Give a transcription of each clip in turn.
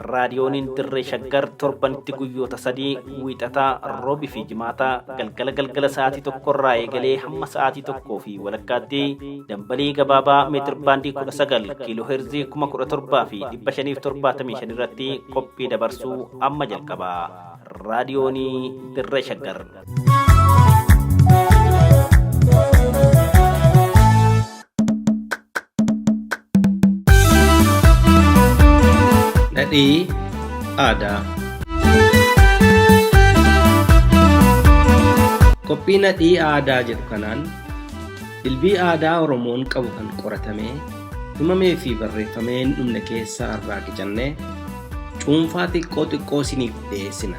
Raadiyooniin Dirree Shaggar torbanitti guyyoota sadii wiixataa, roobii fi jimaataa galgala galgala sa'aatii tokko irraa eegalee hamma sa'aatii tokkoo fi walakkaatti dambalii gabaabaa meetir baandii kudha sagal kiiloo heerzii kuma kudha torbaa fi dhibba shaniif torbaatamii shan irratti qophii dabarsuu amma jalqaba. Raadiyoonii Dirree Shaggar. Dhadhii aadaa. Qophii nadhii aadaa jedhu kanaan dilbii aadaa Oromoon qabu kan qoratamee himamee fi barreeffamee hin dhumne keessaa irraa qicannee cuunfaa xiqqoo xiqqoo isiniif dhiyeessina.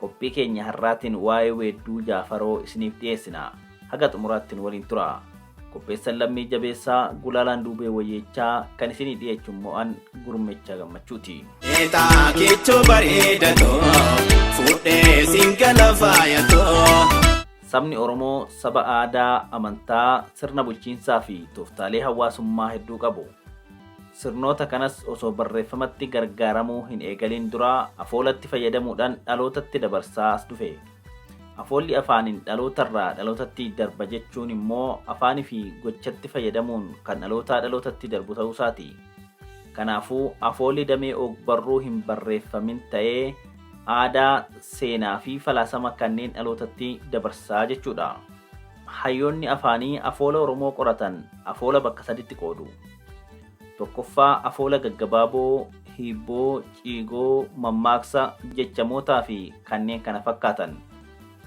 Qophii keenya har'aatiin waa'ee weedduu Jaafaroo isiniif dhiyeessina. Haga xumuraatti nu waliin tura. Qopheessan Lammii Jabeessaa, Gulaalaan Duubee Wayyeechaa, kan isinii dhiyeechu immoo an Gurmeechaa Gammachuuti. Eetaa kichuu bareeda too fuudhee siin gala faaya too. Sabni Oromoo saba aadaa, amantaa, sirna bulchiinsaa fi tooftaalee hawaasummaa hedduu qabu. Sirnoota kanas osoo barreeffamatti gargaaramuu hin eegaliin dura afoolatti fayyadamuudhaan dhalootatti dabarsaa as dhufe. Afoolli afaaniin dhalootarraa dhalootatti darba jechuun immoo afaanifi gochatti fayyadamuun kan dhalootaa dhalootatti darbu ta'uusaati. Kanaafuu, afoolli damee ogbarruu hin barreeffamin ta'ee aadaa, seenaafi falaasama kanneen dhalootatti dabarsaa jechuudha. Hayyoonni afaanii afoola Oromoo qoratan afoola bakka saditti qoodu. Tokkoffaa afoola gaggabaaboo, hiibboo, ciigoo, mammaaksa, jechamootaafi kanneen kana fakkaatan.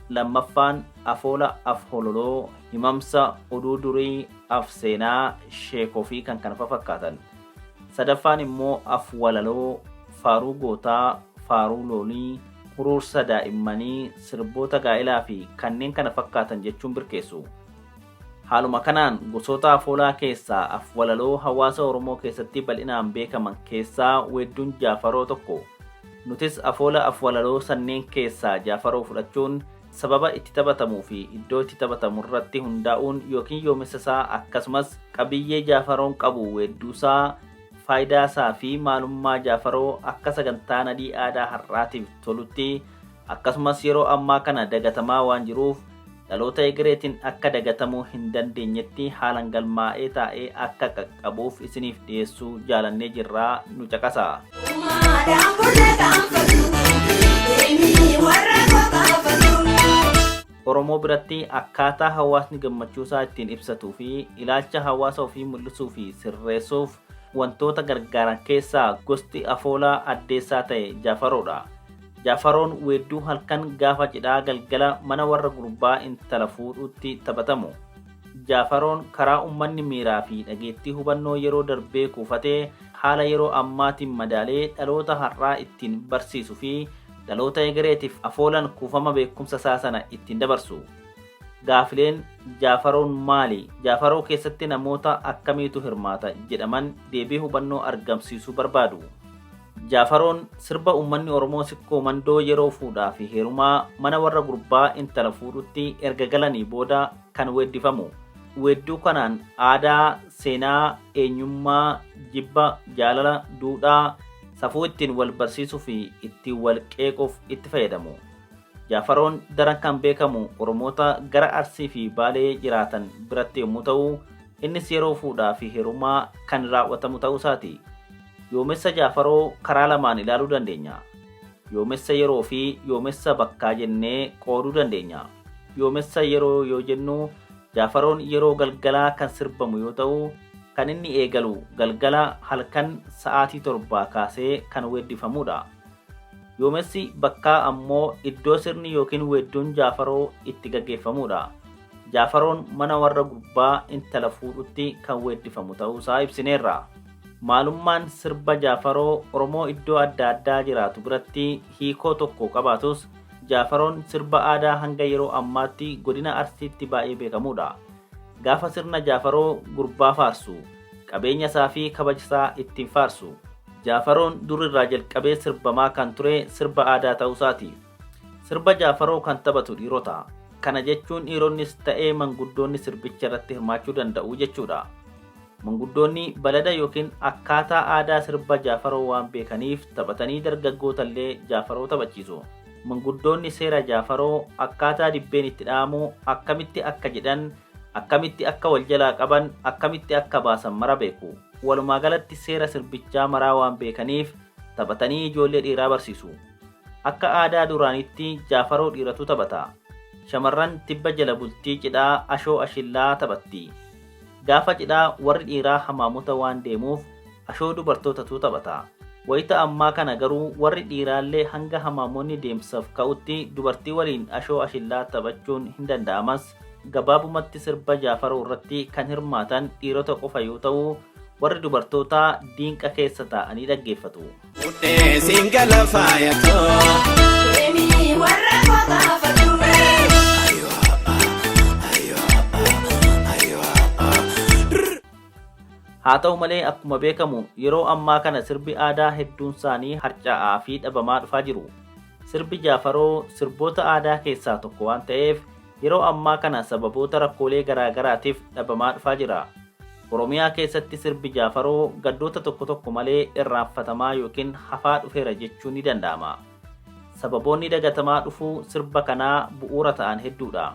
Lammaffaan afoola af-hololoo, himamsa, oduu durii, af-seenaa, sheekoofi kan kana fafakkaatan. Sadaffaan immoo af-walaloo, faaruu gootaa, faaruu loolii, huruursa daa'immanii, sirboota gaa'ilaa fi kanneen kana fakkaatan jechuun birkeessu. Haaluma kanaan gosoota afoolaa keessaa afwalaloo hawaasa Oromoo keessatti bal'inaan beekaman keessaa weedduun Jaafaroo tokko. Nutis afoola afwalaloo sanneen keessaa Jaafaroo fudhachuun sababa itti taphatamuu fi iddoo itti taphatamu irratti hundaa'uun ykn yoomessa isaa akkasumas qabiyyee Jaafaroon qabu weedduusaa Faayidaa isaa fi maalummaa Jaafaroo akka sagantaa nadhii aadaa har'aatiif tolutti akkasumas yeroo ammaa kana dagatamaa waan jiruuf dhaloota egereetiin akka dagatamuu hin dandeenyetti haalan galmaa'ee taa'ee akka qaqqabuuf isiniif dhiyeessuu jaalannee jirra nu caqasaa. Umaadaan burra gaanfatu, deemii warra gogaafatu. Oromoo biratti akkaataa hawaasni gammachuusaa ittiin ibsatuu fi ilaalcha hawaasa ofii mul'isuu fi sirreessuuf wantoota gargaaran keessaa gosti afoolaa addeessaa ta'e Jaafaroodha. Jaafaroon weedduu halkan gaafa cidhaa galgala mana warra gurbaa intala fuudhuutti taphatamu. Jaafaroon karaa ummanni miiraa fi dhageettii hubannoo yeroo darbee kuufate haala yeroo ammaatiin madaalee dhaloota har'aa ittiin barsiisu fi Dhaloota egereetiif afoolan kuufama beekumsa isaa sana ittiin dabarsu. Gaafileen Jaafaroon maali? Jaafaroo keessatti namoota akkamiitu hirmaata? jedhaman deebii hubannoo argamsiisu barbaadu. Jaafaroon sirba uummanni Oromoo Sikkoo Mandoo yeroo fuudhaa fi heerumaa mana warra gurbaa intala fuudhutti erga galanii booda kan weeddifamu. Weedduu kanaan aadaa, seenaa, eenyummaa, jibba, jaalala, duudhaa, safuu ittiin wal barsiisuu fi ittiin wal qeequuf itti fayyadamu. Jaafaroon daran kan beekamu Oromoota gara Arsii fi Baalee jiraatan biratti yommuu ta'u, innis yeroo fuudhaa fi heerumaa kan raawwatamu ta'uu isaati. Yoomessa Jaafaroo karaa lamaan ilaaluu dandeenya. Yoomessa yeroo fi yoomessa bakkaa jennee qooduu dandeenya. Yoomessa yeroo yoo jennu Jaafaroon yeroo galgalaa kan sirbamu yoo ta'u, kan inni eegalu galgala halkan sa'aatii torbaa kaasee kan weeddifamuudha. Yoomessi bakkaa ammoo iddoo sirni yookiin weedduun Jaafaroo itti gaggeeffamuudha. Jaafaroon mana warra gurbaa intala fuudhutti kan weeddifamu ta'uusaa ibsineerra. Maalummaan sirba Jaafaroo Oromoo iddoo adda addaa jiraatu biratti hiikoo tokko qabaatus, Jaafaroon sirba aadaa hanga yeroo ammaatti godina Arsiitti baay'ee beekamuudha. Gaafa sirna Jaafaroo gurbaa faarsu, qabeenya isaa fi kabaja isaa ittiin faarsu. Jaafaroon dur irraa jalqabee sirbamaa kan ture sirba aadaa ta'uu isaati. Sirba Jaafaroo kan taphatu dhiirota. Kana jechuun dhiironnis ta'ee manguddoonni sirbicha irratti hirmaachuu danda'u jechuudha. Manguddoonni balada yookiin akkaataa aadaa sirba Jaafaroo waan beekaniif taphatanii dargaggootallee Jaafaroo taphachiisu. Manguddoonni seera Jaafaroo, akkaataa dibbeen itti dha'amu, akkamitti akka jedhan, akkamitti akka wal jalaa qaban, akkamitti akka baasan mara beeku. Walumaa galatti seera sirbichaa maraa waan beekaniif taphatanii ijoollee dhiiraa barsiisu. Akka aadaa duraaniitti Jaafaroo dhiiratu taphata. Shamarran tibba jala bultii cidhaa ashoo ashillaa taphatti. Gaafa cidhaa warri dhiiraa hamaamuta waan deemuuf ashoo dubartootatu taphata. Wayita ammaa kana garuu warri dhiiraallee hanga hamaamoonni deemsaf ka'utti dubartii waliin ashoo ashillaa taphachuun hindanda'amas. Gabaabumatti sirba Jaafaroo irratti kan hirmaatan dhiirota qofa yoo ta'u, warri dubartootaa diinqa keessa taa'anii dhaggeeffatu. Mudhee siin gala faaya koo. Haa ta'u malee akkuma beekamu yeroo ammaa kana sirbi aadaa hedduun isaanii harca'aa fi dhabamaa dhufaa jiru. Sirbi Jaafaroo sirboota aadaa keessaa tokko waan ta'eef yeroo ammaa kana sababoota rakkoolee garaa garaatiif dhabamaa dhufaa jira. Oromiyaa keessatti sirbi Jaafaroo gaddoota tokko tokko malee irraanfatamaa yookiin hafaa dhufeera jechuun ni danda'ama. Sababoonni dagatamaa dhufuu sirba kanaa bu'uura ta'an hedduudha.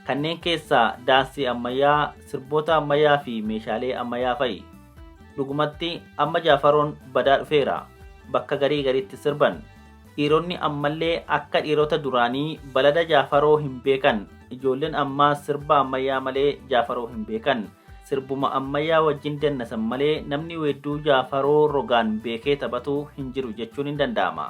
Kanneen keessaa daansii ammayyaa, sirboota ammayyaa fi meeshaalee ammayyaa fa'i. Dhugumatti amma Jaafaroon badaa dhufeera. Bakka garii gariitti sirban. Dhiironni ammallee akka dhiirota duraanii balada Jaafaroo hin beekan. Ijoolleen ammaa sirba ammayyaa malee Jaafaroo hin beekan. Sirbuma ammayyaa wajjin dannasan malee namni weedduu Jaafaroo rogaan beekee taphatu hin jiru jechuun hin danda'ama.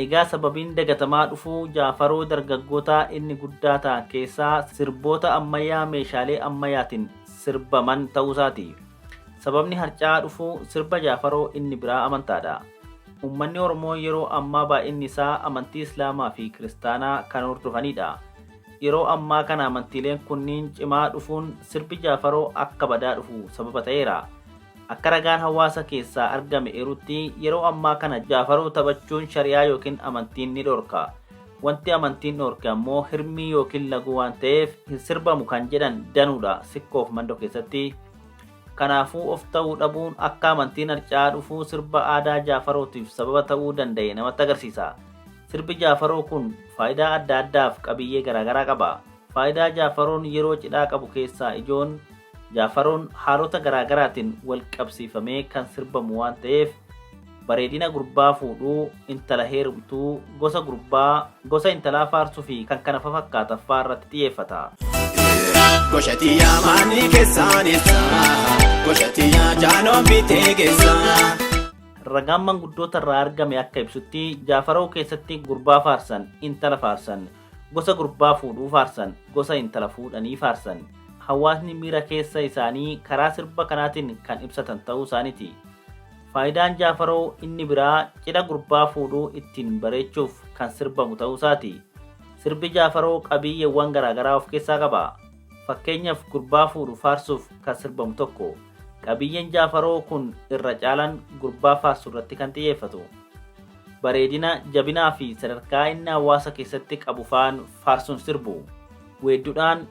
Egaa sababiin dagatamaa dhufuu Jaafaroo dargaggootaa inni guddaa ta'an keessaa sirboota ammayyaa meeshaalee ammayaatiin sirbaman ta'uusaati. Sababni harca'aa dhufuu sirba Jaafaroo inni biraa amantaadha. Uummanni Oromoo yeroo ammaa baay'inni isaa amantii Islaamaa fi Kiristaanaa kan hordofaniidha. Yeroo ammaa kana amantiileen kunniin cimaa dhufuun sirbi Jaafaroo akka badaa dhufu sababa ta'eera. Akka ragaan hawaasa keessaa argame eerutti yeroo ammaa kana Jaafaroo taphachuun shari'aa yookiin amantiin ni dhorka. Wanti amantiin dhoorke ammoo hirmii yookiin laguu waan ta'eef hin sirbamu kan jedhan danuudha sikkoof mandoo keessatti. Kanaafuu of ta'uu dhabuun akka amantiin harca'aa dhufuu sirba aadaa Jaafarootiif sababa ta'uu danda'e namatti agarsiisa. Sirbi Jaafaroo kun faayidaa adda addaaf qabiyyee garaagaraa qaba. Faayidaa Jaafaroon yeroo cidhaa qabu keessaa ijoon Jaafaroon haalota garaagaraatiin wal qabsiifamee kan sirbamu waan ta'eef bareedina gurbaa fuudhuu, intala heerumtuu, gosa gurbaa, gosa intalaa faarsuu fi kan kana fafakkaatan fa'aa irratti xiyyeeffata. Goshati yaa maanni keessaan ibsa. Goshati yaa jaanoon bitee geessa. Ragaan manguddoota irraa argame akka ibsutti jaafaroo keessatti gurbaa faarsan, intala faarsan, gosa gurbaa fuudhuu faarsan, gosa intala fuudhanii faarsan. Hawaasni miira keessa isaanii karaa sirba kanaatiin kan ibsatan ta'uu isaaniiti. Faayidaan Jaafaroo inni biraa cidha gurbaa fuudhu ittiin bareechuuf kan sirbamu ta'uu isaati. Sirbi Jaafaroo qabiiyyeewwan garaagaraa of keessaa qaba. Fakkeenyaf gurbaa fuudhu faarsuuf kan sirbamu tokko. Qabiiyyeen Jaafaroo kun irra caalan gurbaa faarsu irratti kan xiyyeeffatu. Bareedina, jabinaa fi sadarkaa inni hawaasa keessatti qabu faan faarsuun sirbu. Weeddudhaan,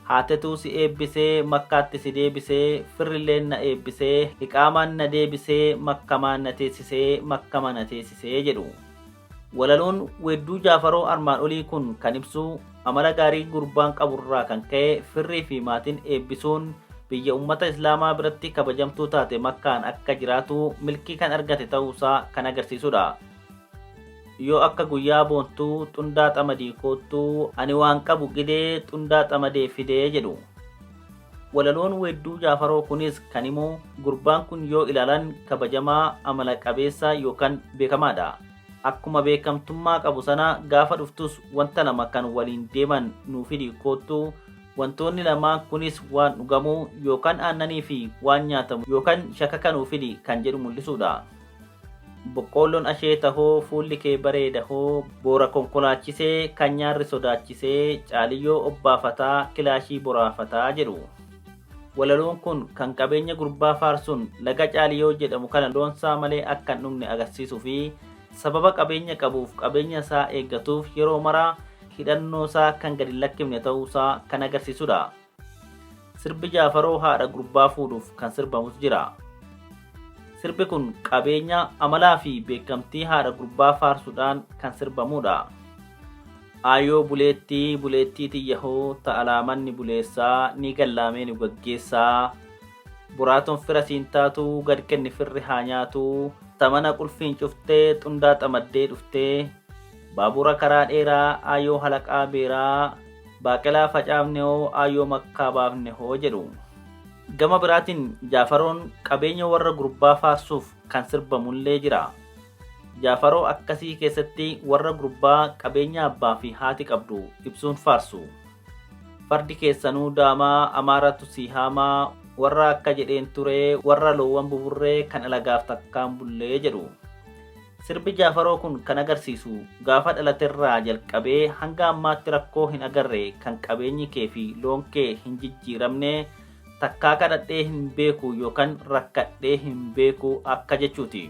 Haatetuu si eebbisee makkaatti si deebisee firrilleen na eebbisee iqaamaan na deebisee makkamaan na teessisee makkama na teessisee jedhu. Walaloon weedduu Jaafaroo armaan olii kun kan ibsu amala gaarii gurbaan qaburraa kan ka'e firrii fi maatiin eebbisuun biyya ummata Islaamaa biratti kabajamtuu taate makkaan akka jiraatu milkii kan argate ta'uusaa kan agarsiisudha. Yoo akka guyyaa boontuu xundaa xamadii koottuu ani waan qabu gidee xundaa xamadee fidee jedhu. Walaloon weedduu Jaafaroo kunis kan himu gurbaan kun yoo ilaalan kabajamaa, amala qabeessa yookan beekamaadha. Akkuma beekamtummaa qabu sana gaafa dhuftus wanta lama kan waliin deeman nuu fidi koottu wantoonni lamaan kunis waan dhugamu yookan aannanii fi waan nyaatamu yookan shakaka nuu fidi kan jedhu mul'isuudha. Boqqoolloon asheeta hoo fuulli kee bareeda hoo boora konkolaachisee kan nyaarri sodaachisee caaliyyoo obbaafataa kilaashii boraafataa jedhu. Walaloon kun kan qabeenya gurbaa faarsuun laga caaliyoo jedhamu kana loonsaa malee akka hin dhugne agarsiisuu fi sababa qabeenya qabuuf qabeenya isaa eeggatuuf yeroo mara hidhannoosaa kan gad hin lakkifne ta'uusaa kan agarsiisudha. Sirbi Jaafaroo haadha gurbaa fuudhuuf kan sirbamus jira. Sirbi kun qabeenya, amalaa fi beekamtii haadha gurbaa faarsuudhaan kan sirbamudha. Aayoo buleettii buleettii tiyyahoo ta'alaa manni buleessaa ni gallaamee nu gaggeessaa. Buraatoon fira siin taatu gad kenni firri haa nyaatu. Tamana qulfiin cuftee xundaa xamaddee dhuftee. Baabura karaa dheeraa aayoo halaqaa beeraa. Baaqelaa facaafne hoo aayyoo makkaa baafne hoo jedhu. Gama biraatiin Jaafaroon qabeenya warra gurbaa faarsuuf kan sirbamullee jira. Jaafaroo akkasii keessatti warra gurbaa qabeenya abbaa fi haati qabdu ibsuun faarsu. Fardi keessanuu daamaa amaaratu sii haamaa warra akka jedheen turee warra loowwan buburree kan alagaaf takkaan bullee jedhu. Sirbi Jaafaroo kun kan agarsiisu gaafa dhalaterraa jalqabee hanga ammaatti rakkoo hin agarre kan qabeenyi kee fi loon kee hin jijjiiramne takkaa kadhadhee hin beeku yookaan rakkadhee hin beeku akka jechuuti.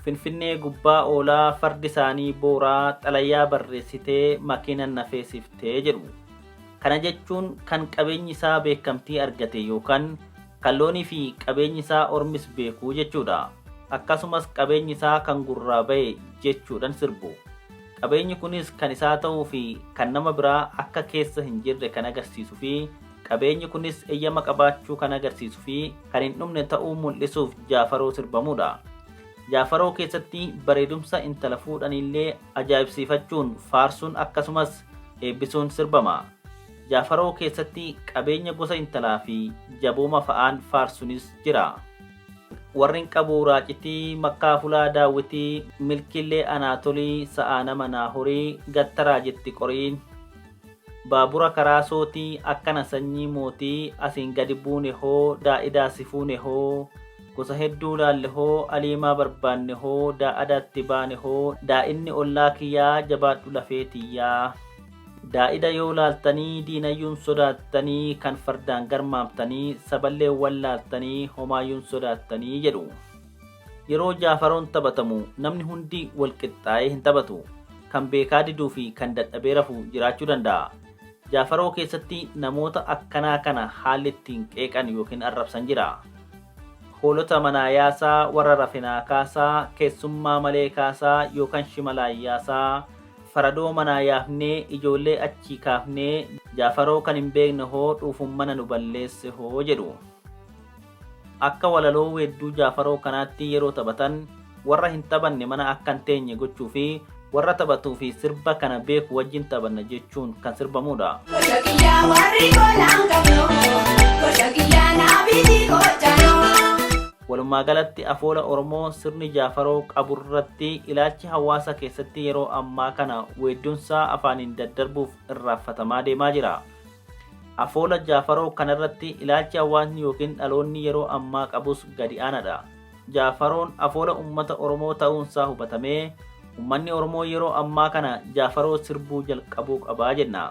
Finfinnee gubbaa oolaa fardi isaanii booraa xalayaa barreessitee makiinan nafeesiftee jedhu. Kana jechuun kan qabeenyi isaa beekamtii argate yookaan Kan loonii fi qabeenyi isaa ormis beeku jechuudha. Akkasumas qabeenyi isaa kan gurraa ba'e jechuudhan sirbu. Qabeenyi kunis kan isaa ta'uu fi kan nama biraa akka keessa hin jirre kan agarsiisu fi qabeenyi kunis eyyama qabaachuu kan agarsiisu fi kan hin dhumne ta'uu mul'isuuf jaafaroo sirbamuudha. Jaafaroo keessatti bareedumsa intala fuudhaniillee ajaa'ibsiifachuun, faarsuun akkasumas eebbisuun sirbama. Jaafaroo keessatti qabeenya gosa intalaa fi jabooma fa'aan faarsunis jira. Warrin qabuu raacitii makkaa fulaa daawwitii milkiillee anaa tolii sa'aa nama naa horii gattaraa jetti qorii baabura karaa sootii akkana sanyii mootii asiin gadi buune hoo daa'idaa si fuune hoo gosa hedduu laalle hoo aliimaa barbaanne hoo daa'adaatti baane hoo daa'inni ollaa kiyyaa jabaadhu lafee tiyyaa. Daa'ida yoo laaltanii diinayyuun sodaattanii kan fardaan garmaamtanii saballee wallaaltanii homaayyuun sodaattanii jedhu. Yeroo jaafaroon taphatamu namni hundi walqixxaa'ee hin taphatu. Kan beekaa diduu fi kan dadhabee rafu jiraachuu danda'a. Jaafaroo keessatti namoota akkanaa kana haalli ittiin qeeqan yookiin arrabsan jira. Hoolota manaa yaasaa, warra rafinaa kaasaa, keessummaa malee kaasaa yookaan shimalaan yaasaa, Faradoo manaa yaafnee ijoollee achii kaafnee Jaafaroo kan hin beekne hoo dhuufun mana nu balleesse hoo jedhu. Akka walaloo weedduu Jaafaroo kanaatti yeroo taphatan warra hin taphanne mana akka hin teenye gochuu fi warra taphatuu fi sirba kana beeku wajjin taphanna jechuun kan sirbamuudha. Gocha kiyyaa warri golaan qabnoo, gocha kiyyaa naabiti gochaanoo. Walumaagalatti afoola Oromoo sirni Jaafaroo qaburratti ilaalchi hawaasa keessatti yeroo ammaa kana weeddunsaa afaaniin daddarbuuf irraanfatamaa deemaa jira. Afoola Jaafaroo kanarratti ilaalchi hawaasni yookiin dhaloonni yeroo ammaa qabus gadi aanaadha. Jaafaroon afoola ummata Oromoo ta'uunsaa hubatamee ummanni Oromoo yeroo ammaa kana Jaafaroo sirbuu jalqabuu qaba jenna.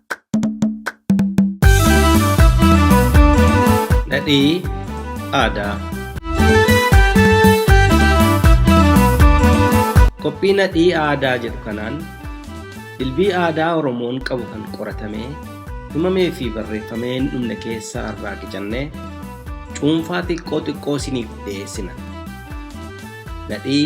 Dhadhii aadaa. Qophii nadhii aadaa jedhu kanaan dilbii aadaa Oromoon qabu kan qoratamee himamee fi barreeffamee hin dhumne keessaa irraa qicannee cuunfaa xiqqoo xiqqoo isiniif dhiyeessina. Nadhii